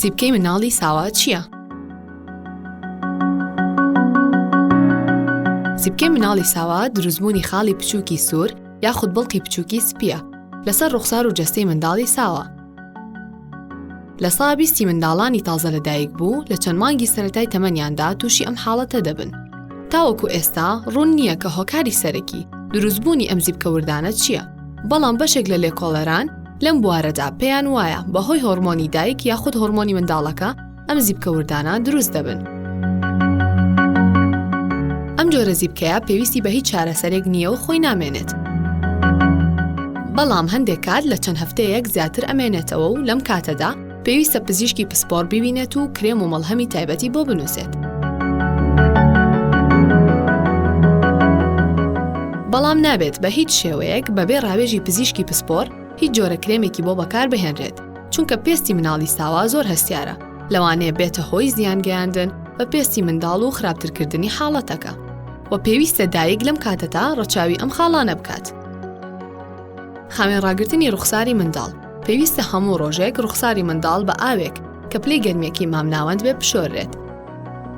سیپکەی مناڵی ساوا چییە؟ سیپکەی مناڵی ساوا دروستبوونی خاڵی بچووکی سوور یاخود بڵقی بچووکی سپیە لەسەر ڕوخسار و جەستەی منداڵی ساوا لە سا بیستی منداڵانی تازە لە دایک بوو لە چەند مانگی سەتای تەمەنیاندا تووشی ئەم حاڵەتە دەبن. تاوەکو ئێستا ڕوون نییە کە هۆکاری سەرەکی دروستبوونی ئەم زیبکەوردانە چییە؟ بەڵام بەشێک لە لێکۆڵەران لەم بوارەدا پێیان وایە بەهۆی هۆرمۆنی دایک یاخود هۆرمۆنی منداڵەکە ئەم زیپکە وردانە دروست دەبن. ئەم جۆرە زیپکەیە پێویستی بە هیچ چارەسەرێک نییە و خۆی نامێنێت. بەڵام هەندێک کات لە چەند هەفتەیەک زیاتر ئەمێنێتەوە و لەم کاتەدا پێویستە پزیشکی پسپۆڕ ببینێت و کرێم و مەڵهەمی تایبەتی بۆ بنووسێت. بەڵام نابێت بە هیچ شێوەیەک بەبێ ڕاوێژی پزیشکی پسپۆر هیچ جۆرە کرێمێکی بۆ بەکار بهێنرێت. چونکە پێستی مناڵی ساوا زۆر هەستیارە لەوانەیە بێتە هۆی زیان گەیاندن بە پێستی منداڵ و خراپترکردنی حاڵەتەکە و پێویستە دایک لەم کاتەتا ڕەچاوی ئەم خاڵانە بکات خاوێن ڕاگرتنی ڕوخساری منداڵ پێویستە هەموو ڕۆژێک ڕوخساری منداڵ بە ئاوێک کە پلی گەرمێکی مامناوەند بێ بشۆرێت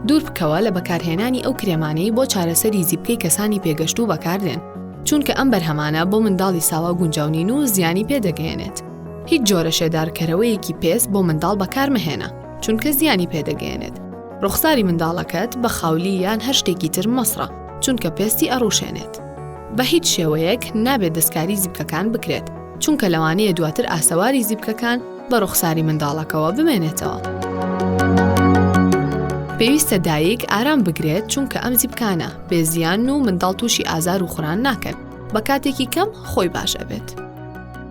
دوور بکەوە لە بەکارهێنانی ئەو کرێمانەی بۆ چارەسەری زیبکەی کەسانی پێگەشت و بەکاردێن چونکە ئەم بەرهەمانە بۆ منداڵی ساوا گونجاونین و زیانی پێدەگەێنێت هیچ جۆرە شێدارکەرەوەیەکی پێست بۆ منداڵ بەکارمەهێنە چونکە زیانی پێدەگەێنێت ڕوخساری منداڵەکەت بە خاولی یان هەر شتێکی تر مەسڕە چونکە پێستی ئەڕوشێنێت بە هیچ شێوەیەک نابێت دەستکاری زیبکەکان بکرێت چونکە لەوانەیە دواتر ئاسەواری زیبکەکان بە ڕوخساری منداڵەکەەوە بمێنێتەوە. پێویستە دایک ئارام بگرێت چونکە ئەم زیبکانە بێزیان و منداڵ تووشی ئازار و خوران ناکەن بە کاتێکی کەم خۆی باش ئەبێت.